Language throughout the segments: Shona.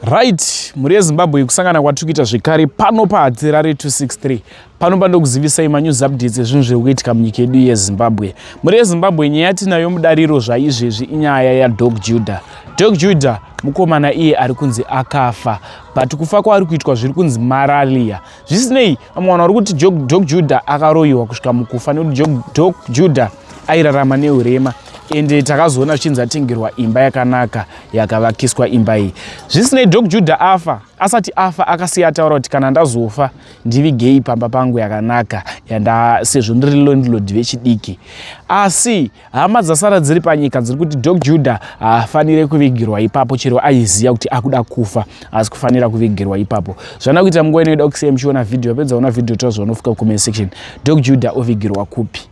right mhuri yezimbabwe kusangana kwatiri kuita zvekare pano pahadzirare 263 pano pandokuzivisai manews updates ezvinhu zviri kuitika munyika yedu yezimbabwe mhuri yezimbabwe nyaya yatinayo mudariro zvaizvezvi inyaya yadog juda dog juda mukomana iye ari kunzi akafa but kufa kwaari kuitwa zviri kunzi maralia zvisinei vamwe vanhu vari kuti dog juda akaroyiwa kusvika mukufa nekuti dog juda airarama neurema ende takazoona zvichinzi atengerwa imba yakanaka yakavakiswa imba iyi zvisinei dok judha afa asati afa akasiya ataura kuti kana ndazofa ndivigei pamba pangu yakanaka sezvo ndiri londlod vechidiki asi hama dzasara dziri panyika dziri kuti dok judha haafanire kuvigirwa ipapo chero aiziva kuti akuda kufa asi kufanira kuvigirwa ipapo zvana kuita munguva inoida kusei muchiona vhidhiyo yapedza ona vhidhiyo tozvaonofika kucomment section dok judha ovigirwa kupi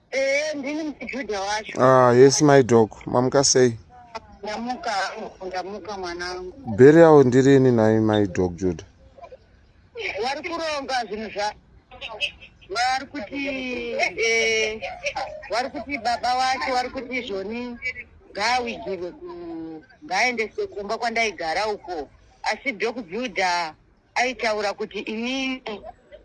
Eh, ndini muJuda wacho. Ah, yes my dog. Mamuka sei? Ndamuka, ndamuka mwanangu. Burial ndirini nai my dog Juda. Vari kuronga zvinhu zva vari kuti eh vari kuti baba wacho vari kuti zvoni ngaawigirwe ku ngaendeswe kumba kwandaigara uko asi Doc Juda aitaura kuti inini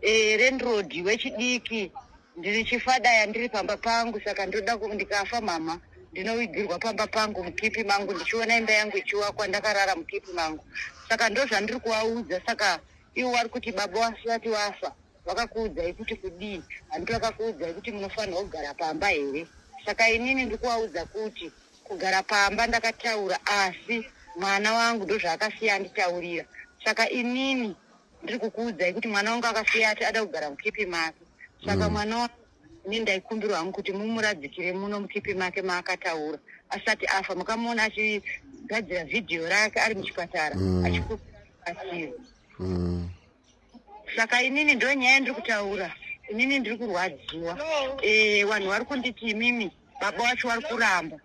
e, landlord wechidiki ndiri chifadaya ndiri pamba pangu saka ndoda ku- ndikafa mhamha ndinowigirwa pamba pangu mukipi mangu ndichiona imba yangu ichiwakwa ndakarara mukipi mangu saka ndozvandiri kuvaudza saka ivo vari kuti baba wasati wafa vakakuudzai kuti kudii handiti vakakuudzai kuti munofanirwa kugara pamba here saka inini ndiri kuvaudza kuti kugara pamba ndakataura asi mwana wangu ndozvaakasiya anditaurira saka inini ndiri kukuudzai kuti mwana wangu akasiya ati ada kugara mukipi make saka mm. mwana wangu ini ndaikumbirwa hangu kuti mumuradzikire muno mukipi make maakataura asati afa makamuona achigadzira vhidhiyo rake ari muchipatara mm. achikuasiri mm. saka inini ndo nyaya ndiri kutaura inini ndiri kurwadziwa eh, vanhu vari kunditi imimi baba wacho vari kuramba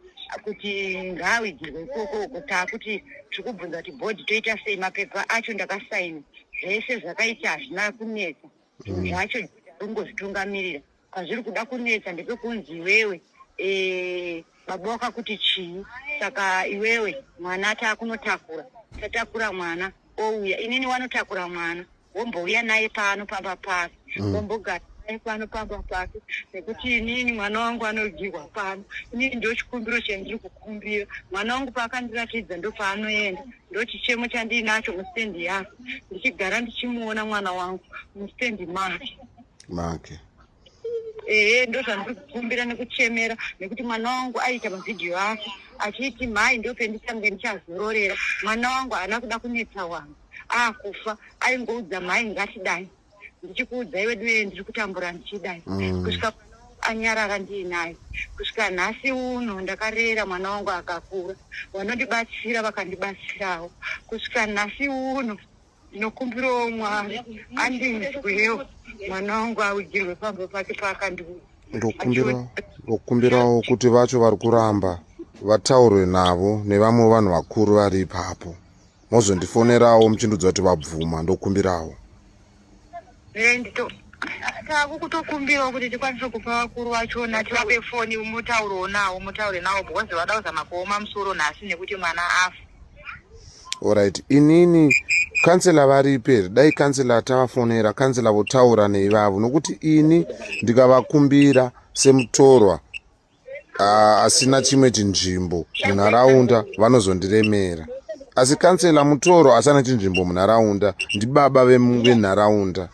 kuti ngaawigirwe ikoko uko taakuti tiri kubvunza kuti bhodhi toita sei mapepa acho ndakasaina zvese zvakaita hazvina kunetsa zvinhu mm. zvacho ungozvitungamirira Pazviri kuda kunetsa ndepekunzi iwewe eh, baba wakakuti chii saka iwewe mwana ati akunotakura tatakura mwana ouya inini wanotakura mwana wombouya naye pano pamba pasi mm. wombogara naye pano pamba pasi nekuti inini mwana wangu anodyirwa pano inini ndochikumbiro chandiri kukumbira mwana wangu paakandiratidza ndopaanoenda ndochichemo chandiinacho mustand yako ndichigara ndichimuona mwana wangu mustand make make ehe ndozvandiri kukumbira nekuchemera nekuti mwana wangu aita mavhidhiyo ake achiti mhai ndopenditange ndichazororera mwana wangu haana kuda kunetsa wangu akufa aingoudza mhai ngatidai ndichikuudzai veduwee ndiri kutambura ndichidai mm. kusvika anyarara ndiinaye kusvika nhasi uno ndakarera mwana wangu akakura vanondibatsira vakandibatsirawo kusvika nhasi uno ndinokumbirawo mwari andinzwewo mwana wangu augirwe pamba pake paakandiuza ndokumbirawo kuti vacho vari kuramba vataurwe navo nevamwe vanhu vakuru vari ipapo mozondifonerawo muchindudza kuti vabvuma ndokumbirawo eh, tavo kutokumbirawo kuti tikwanise kupa vakuru vachona tivape foni mutaurewo nawo mutaure nawo because vada kuzama kuoma musoro nhasi nekuti mwana afa orit inini kansela varipi here dai kansela tavafonera kansela votaura neivavo nokuti ini ndikavakumbira semutorwa uh, asina chimwe chinzvimbo munharaunda vanozondiremera asi kansela mutoro asana chinzvimbo munharaunda ndibaba venharaunda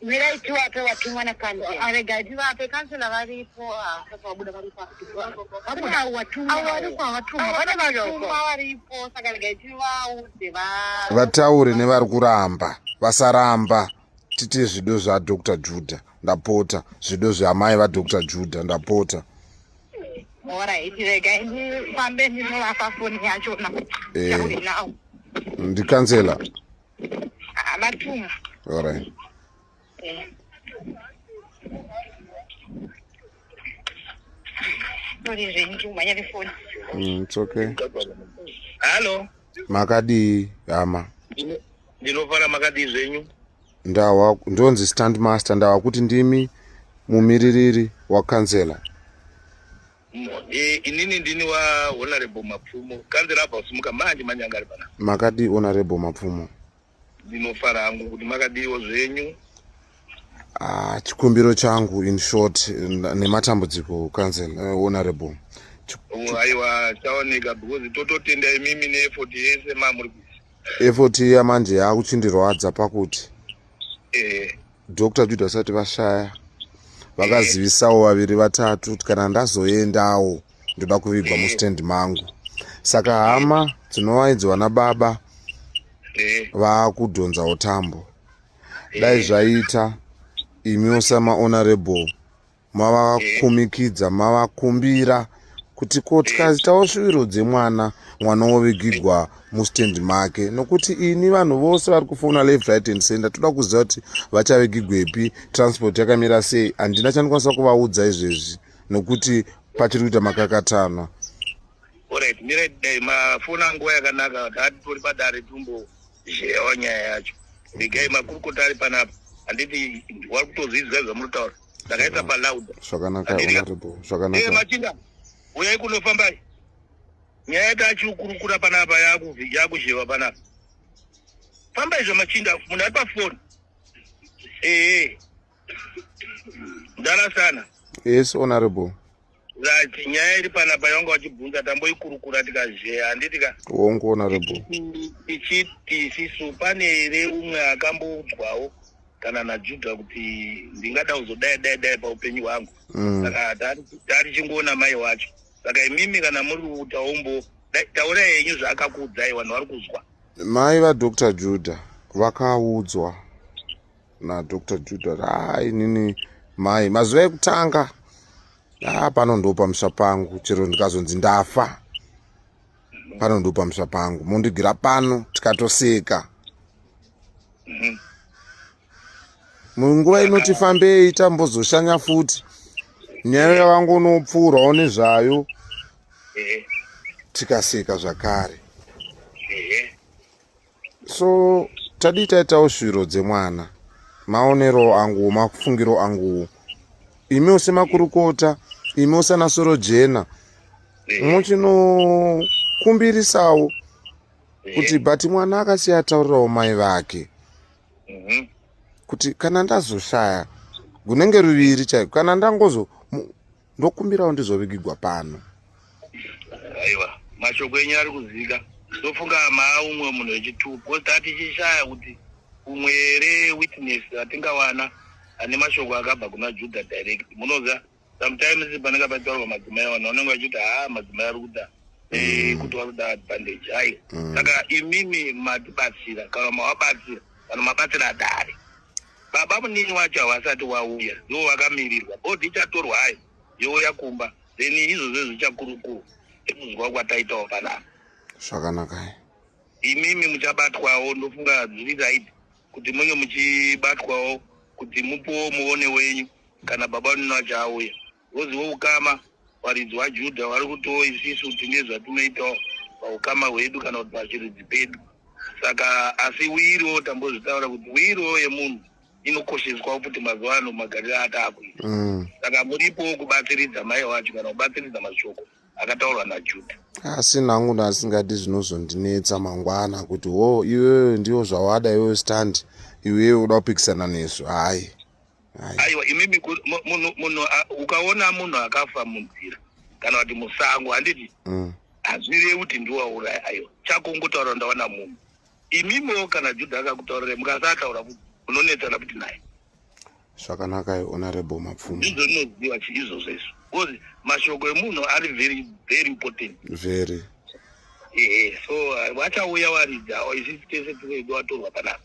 mirai tiwape watumwa nakansearega tivape kansela varipo vabuda varipo vataure nevari kuramba vasaramba titi zvido zvadr juda ndapota zvido zveamai vadr juda ndapota ndikansela orit mm, it's okay hallo makadii hama ndinofara makadii zvenyu ndawa ndonzi stand master ndawa kuti ndimi mumiririri wakanzela e, inini ndini wahonorable mapfumo kanzela abva kusimuka manje manyanga ari pana makadii honorable mapfumo ndinofara hangu kuti makadiiwo zvenyu ah, chikumbiro changu in short nematambudziko council uh, honorable aiwa chaoneka because tototenda imimi neefort yese mamuri effort iya manje yakuchindirwadza pakuti eh. dr juda vasati vashaya vakazivisawo eh. vaviri vatatu kuti kana ndazoendawo ndoda kuvigwa eh. mustand mangu saka hama dzinovaidzi vana baba vakudhonzawo tambo dai zvaita imiwo samahonorable mavakumikidza mavakumbira kuti ko tikaitawo shuviro dzemwana mwana wovigigwa mustand make nokuti ini vanhu vose vari kufona left right and center toda kuziva kuti vachavigigwepi transport yakamira sei handina chandikwanisa kuvaudza izvezvi nokuti pachiri kuita makakatanwa orit mirai dai mafona nguva yakanaka tatitori padare tumbo zheyawa nyaya yacho vigai makurukota ari panapa handiti wari kutozviziva zvamunotaura ndakaisa paloud zvakanaka honorable zvakanaka eh machinda uyai kunofamba nyaya yatachiukurukura panapa yakuzheva panapa famba izvo machinda munhu ari pafoni ee mdara sana yes honorable Zach, nyaya iri panapa yawanga wachibvunza tamboikurukura tikazheya handiti ka wongo honorable tichiti isisu pane here umwe akamboudzwawo kana najuda kuti ndingada kuzodai dai dai paupenyu hwangu mm. saka taari chingoona mai wacho saka imimi kana muri utaumbo taura yenyu zvaakakuudzai vanhu vari kuzwa mai vadr juda vakaudzwa nadr juda haa inini mai mazuva ekutanga haa pano ndo pamusha pangu chero ndikazonzi ndafa pano ndo pamusha pangu mondigira pano tikatoseka mhm. munguva inoti fambei tambozoshanya futi nyaya yavangu unopfuurawo nezvayo mhm. tikaseka zvakare so tadii taitawo shuviro dzemwana maonero anguwo mafungiro anguwo imiwo semakurukota imiwo sana soro jena muchinokumbirisawo kuti but mwana akasiya ataurirawo mai vake mhm. kuti kana ndazoshaya gunenge ruviri chaiko kana ndangozo ndokumbirawo ndizovigigwa pano aiwa mashoko enyu ari kuzika ndofunga maa umwe munhu wechituko bcause tatichishaya kuti umwe here witness atingawana ane mashoko akabva kuna juda direct munoziva sometimes panenge pataurwa madzimai vanhu vanenge vachiti haa madzimai ari kuda eh, mm. kuti vari kuda advantage hai mm. saka imimi matibatsira kana mawabatsira vanhu mabatsira dare baba munini wacho havasati wauya ivo vakamirirwa bhodhi ichatorwa hayo youya kumba then izvozvo zvichakurukuru ekunzwa kwataitawo panapa zvakanakai imimi muchabatwawo ndofunga zviri right kuti munge muchibatwawo kuti mupuwo muone wenyu kana baba munini wacho auya Ngozi woukama, varidzi vaJudha vari kutiwo isisu tine zvatinoitawo paukama hwedu kana kuti pachiridzi pedu. Saka asi wiriwo tambozvitaura kuti wiriwo yemunhu inokosheswa kuti mazuva ano magariro ataakuita. Mm. Saka muripowo kubatsiridza mai wacho kana kubatsiridza mashoko akataurwa naJudha. asi nangu ndasingadi zvinozondinetsa mangwana kuti wo iwewe ndiwo zvawada iwewe stand iwewe uda kupikisana nezvo hayi aiwa imimi munhu ukaona munhu akafa munzira kana kuti musango handiti mm. hazvirevi kuti ndiwauraya aiwa chako ungotaura ndawana munhu imimiwo kana judha akakutaurira mukasataura kuti unonetsana kuti naye zvakanakai honorable mapfumo ndizvo ndinoziva izvozvo izvo because mashoko emunhu ari very very important very ehe so vachauya waridza isisi tese tivedu watorwa panapa